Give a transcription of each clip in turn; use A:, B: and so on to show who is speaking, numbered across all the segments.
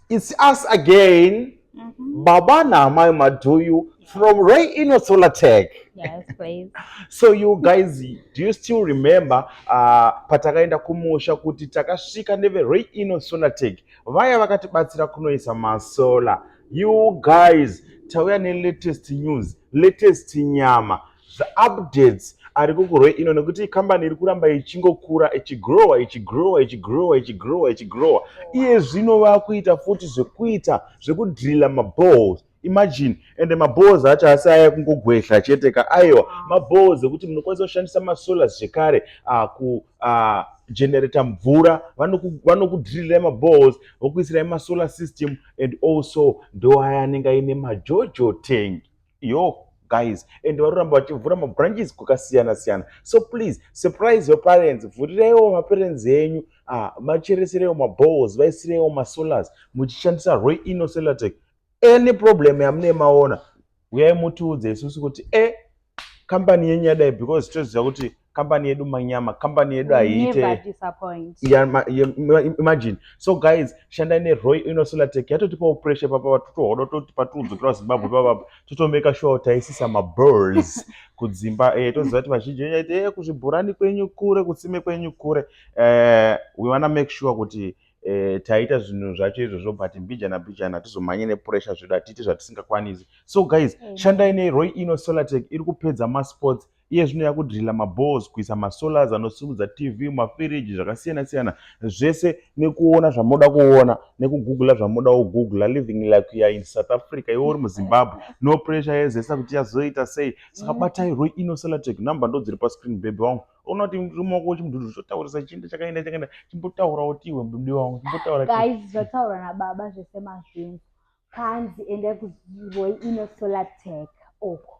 A: It's us again. Mm -hmm. Baba naamai Maduyu from Ray Ino Solar Tech. Yes, please.
B: so you
A: guys, do you still remember uh, patakaenda kumusha kuti takasvika neve Ray Ino Solar Tech vaya vakatibatsira kunoisa masola. You guys, tauya ne latest news, latest nyama zvaupdates ari kukurwe ino nekuti ikambani iri kuramba ichingokura ichigrowa ichigrowa ichigrowa ichigrowa ichigrowa iye zvino vakuita futi zvekuita zvekudrilla maballs imagine ende maballs acho asi aya kungogwehla chete ka aiwa maballs ekuti munokwanisa kushandisa masolars zvekare ah, ku ah, generator mvura vanokudrillira maballs vokuisirai masolar system and also ndoaya anenge aine majojo tank yo guys and vanoramba vachivhura mabranches kwakasiyana siyana so please surprise your parents vhurireiwo maparents enyu ah, macheresereiwo maballs vaisireiwo masolars muchishandisa roy ino selatec any problem yamunee maona uyai mutiudze isusu kuti e eh, kambani yenyu yadai because toziva kuti company yedu manyama company yedu haiite imagine so guys shandai neroy inosolatec yatotipawo pressure papa vatutohodo toti patuudzokera zimbabwe pavapa totomeka sure taisisa maburs kudzimba eh, toziva kuti vazhinji venyu aiti eh, kuzvibhurani kwenyu kure kutsime kwenyu kure eh, we wanna make sure kuti eh, taita zvinhu zvacho izvozvo but mbijana mbijana hatizomhanye nepressure zvedu hatiite zvatisingakwanisi so guys mm. shandai neroy ino solatec iri kupedza masports Iye zvino yakudriller mabores, kuisa masolars anosimudza TV, mafiriji, zvakasiyana siyana zvese nekuona zvamoda kuona nekugugula zvamoda kugugula living like you are in South Africa iwe uri muZimbabwe no pressure yezesa kuti yazoita sei saka batai Roy Ino Cellatech number ndodziri pascreen baby wangu unoti rumaoko wechimududu chotaurisa chienda chakaenda chakaenda chimbotaura kuti iwe mududi wangu chimbotaura guys zvataura
B: nababa zvese mazvinzi panzi endai kuziroi ino solar tech oko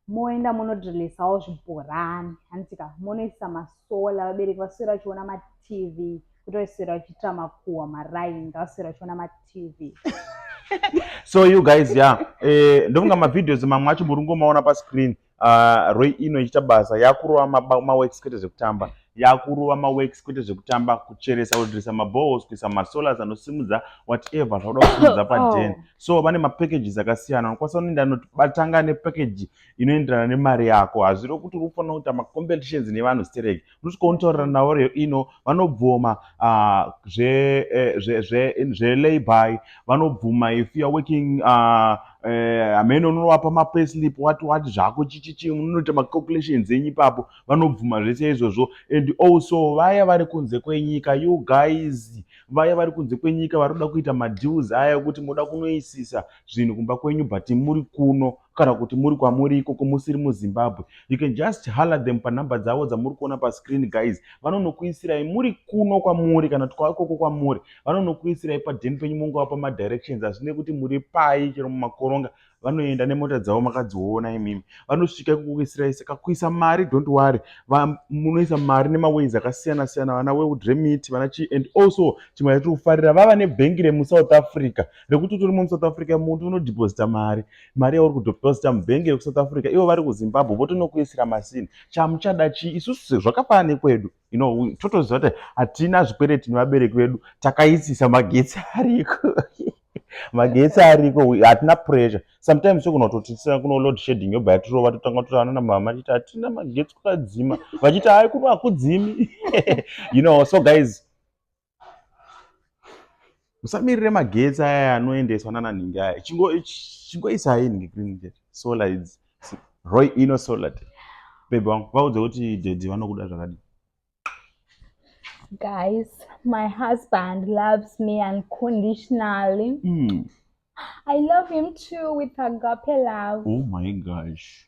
B: moenda monodrilisawo zvibhorani handitika monoisa masola vabereki vaswera vachiona matv kuti vaiswera vachiitira makuhwa maraini ngavaswera vachiona matv
A: so you guys ya eh, ndofunga mavideos mamwe acho muri kungomaona pascreen uh, roi ino ichiita basa yakurova maworks kwete zvekutamba yakurova maworks kwete zvekutamba kucheresa kudirisa mabohos kuisa masolars anosimudza whatever zvakuda kusimudza paden oh. so vane mapackages akasiyana unokwanisa unoenda anoti batanga nepackage inoenderana nemari yako hazviro kuti unofanira kuita macompetitions nevanhu stereki unosvika unotaurira navo ino vanobvuma ah, eh, zvelabor vanobvuma if youare working ah, eh, hamene unovapa mapayslip wati wati zvako chichichi unoita macalculations enyu ipapo vanobvuma zvese izvozvo and also vaya vari kunze kwenyika you guys vaya vari kunze kwenyika vari kuda kuita madeals aya ekuti moda kunoisisa zvinhu kumba kwenyu but muri kuno kana kuti muri kwamuri ikoko musiri muzimbabwe you can just haller them panumber dzavo dzamuri kuona pascreen guys vanonokuisirai muri kuno kwamuri kana kuti kwaikoko kwamuri vanonokuisirai paden penyu monga wapa madirections hazvine kuti muri pai chero mumakoronga vanoenda nemota dzavo makadziona imimi vanosvika ikukuisirai saka kuisa mari don't worry munoisa mari nemaways akasiyana siyana vana weudremit vana chii and also chimwe yatiri kufarira vava nebhengi remusouth africa rekuti utori mumusouth africa muntu unodeposita mari mari yauri kudeposita mubhengi rekusouth africa ivo vari kuzimbabwe votonokuisira masini chamuchada chii isusu sezvakafana nekwedu you know totoziva kuti hatina zvikwereti nevabereki vedu takaisisa magetsi ariko magetsi ariko hatina pressure sometimes sekunototisira kuno load shading yobva yatirova totanga totaana namama tiiti hatina magetsi kwakadzima vachiti hai kuno hakudzimi you know so guys musamirire magetsi aya anoendeswa nana nhingi aya chingoisai nhingi green solar idzi roy ino solar bebe wangu vaudze kuti dedi vanokuda zvakadii
B: guys my husband loves me unconditionally mm. i love him too with agape love oh my gosh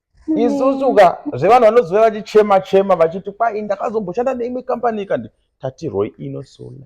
A: isusu ka zvevanhu vanozouya vachichema chema vachiti kwai ndakazomboshanda neimwe kambani kandi tatirwoi ino sola